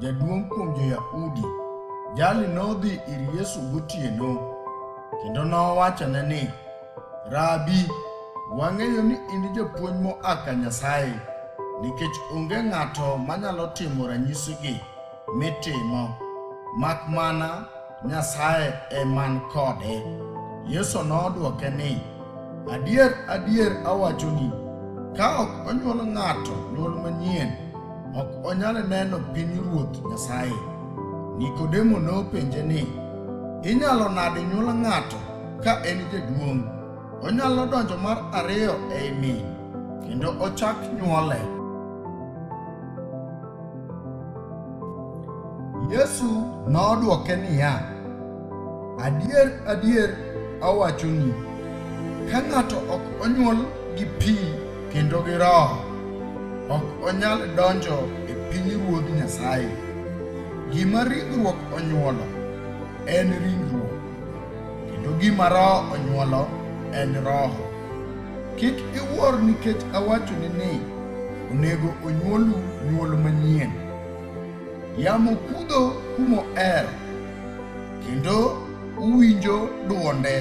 jaduong' kuom jo-Yahudi, jali nodhi ir Yesu gotieno, kendo nowachone ni, Rabi, wang'eyo ni in japuonj moa ka Nyasaye, nikech onge ng'ato manyalo timo ranyisigi mitimo, mak mana Nyasaye e man kode. Yesu nodwoke ni, Adier, adier awachoni, ka ok onyuol ng'ato nyuol manyien, ok onyal neno piny ruoth Nyasaye. Nikodemo nopenje ni, Inyalo nade nyuol ng'ato ka en jaduong'? Onyalo donjo mar ariyo ei min, kendo ochak nyuole. Yesu nodwoke niya, Adier, adier awachoni, ka ng'ato ok onyuol gi pi kendo gi Roho, ok onyal donjo e pinyruodh Nyasaye. Gima ringruok onyuolo en ringruok, kendo gima Roho onyuolo en roho. Kik iwuor nikech awachoni ni onego onyuolu nyuol manyien. Yamo kudho kumo er, kendo uwinjo dwonde,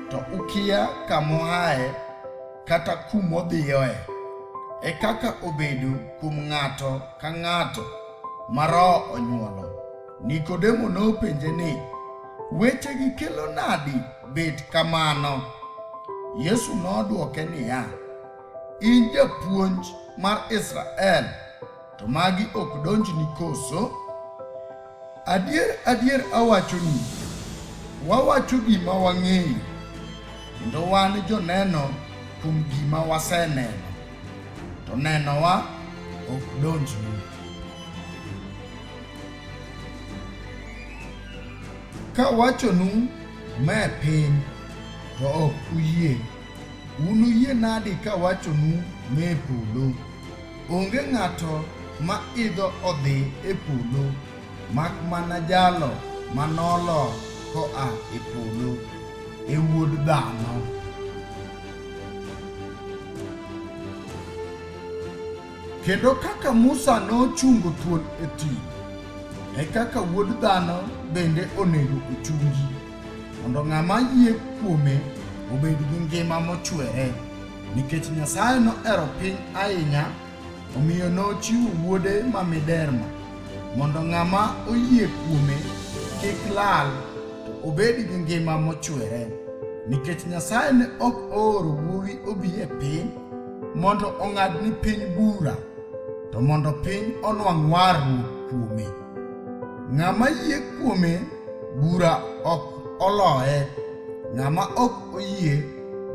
to ukia kamoaye kata kumodhiyoe. E kaka obedo kuom ng'ato ka ng'ato ma Roho onyuolo. Nikodemo nopenje ni, Wechegi kelo nadi bet kamano? Yesu nodwoke niya, In japuonj mar Israel, to magi ok donjni koso? Adier, adier awachoni, wawacho gima wang'eyo, kendo wan joneno kuom gima waseneno, to nenowa ok donjni. Kawachonu ma e piny, to ok uyie. Unuyie nadi kawachonu ma e polo? Onge ng'ato ma idho odhi e polo, mak mana jalo ma nolo koa e polo, e Wuod Dhano. Kendo kaka Musa nochungo thuol e thim, e kaka Wuod Dhano bende onego ochungi, mondo ng'ama yie kuome obed gi ngima mochwere. Nikech Nyasaye nohero piny ahinya, omiyo nochiwo Wuode ma miderma, mondo ng'ama oyie kuome kik lal, to obed gi ngima mochwere. Nikech Nyasaye ne ok ooro Wuowi obi e piny, mondo ong'ad ni piny bura, to mondo piny onwang' warruok kuome. Ng'ama yie kuome bura ok oloye, ng'ama ok oyie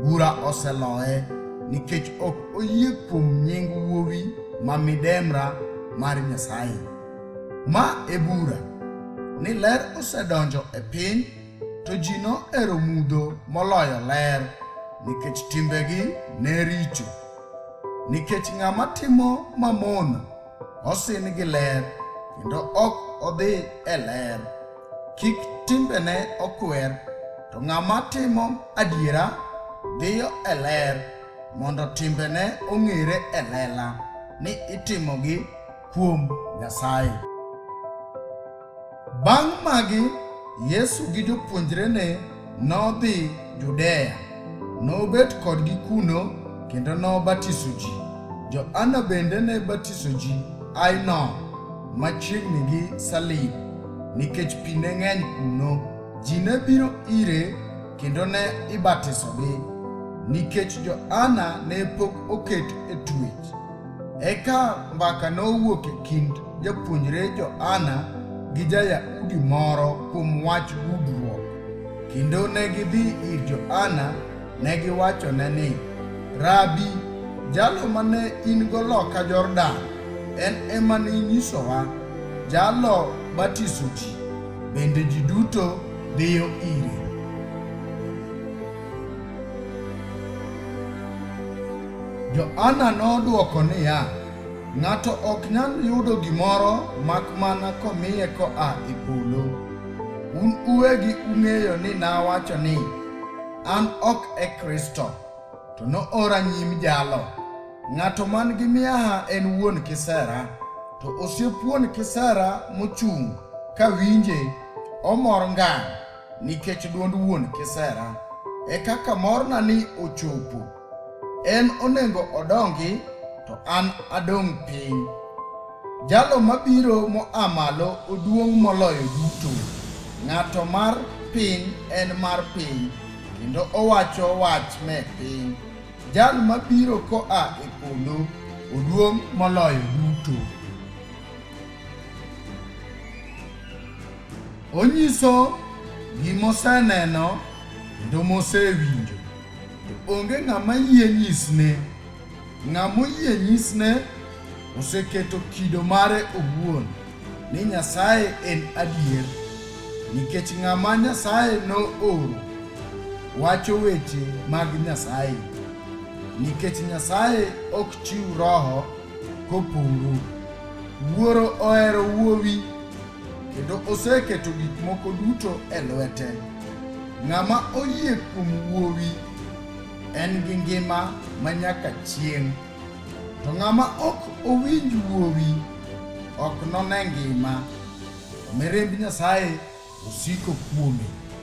bura oseloye, nikech ok oyie kuom nying wuowi ma midemra mar Nyasaye. Ma e bura, ni ler osedonjo e piny, To ji nohero mudho moloyo ler, nikech timbegi ne richo. Nikech ng'ama timo mamono osin gi ler, kendo ok odhi e ler. Kik timbene okwer, to ng'ama timo adiera dhiyo e ler, mondo timbene ong'ere e lela ni itimogi kuom Nyasaye. Bang' magi, Yesu gi jopuonjrene nodhi Judea. Nobet kodgi kuno kendo nobatiso ji. Johana bende ne batiso ji Ainon machiegni gi Salim nikech pi ne ng'eny kuno. Ji ne biro ire kendo ne ibatisogi nikech Johana ne pok oket e tuech. Eka mbaka nowuok e kind japuonjre Johana gi ja-Yahudi moro kuom wach gudruok, kendo ne gidhi ir Johana ne giwachone ni, Rabi, jalo mane in-go loka Jordan, en ema ninyisowa, jalo batiso ji, bende ji duto dhiyo ire. Joana nodwoko niya, Ng'ato ok nyal yudo gimoro mak mana komiye koa e polo. Un uwegi ung'eyo ni nawacho ni, 'An ok e Kristo, to noora nyim jalo. Ng'ato man gi miaha en wuon kisera, to osiep wuon kisera mochung' ka winje, omor ngang'. nikech dwond wuon kisera e kaka morna ni ochopo. En onego odongi to an adong' piny. Jalo mabiro moa malo oduong' moloyo duto. Ng'ato mar piny en mar piny, kendo owacho wach me piny. Jal mabiro koa e polo oduong' moloyo duto. Onyiso gima oseneno kendo mosewinjo, to onge ng'ama yie nyisne. Ng'ama oyie nyisne oseketo kido mare owuon ni Nyasaye en adier, nikech ng'ama Nyasaye nooro wacho weche mag Nyasaye, nikech Nyasaye ok chiw roho koporo. Wuoro ohero Wuowi kendo oseketo gik moko duto e lwete. Ng'ama oyie kuom Wuowi en gi ngima ma nyaka chieng', to ng'ama ok owinj Wuowi ok none ngima, to mirimb Nyasaye osiko kuome.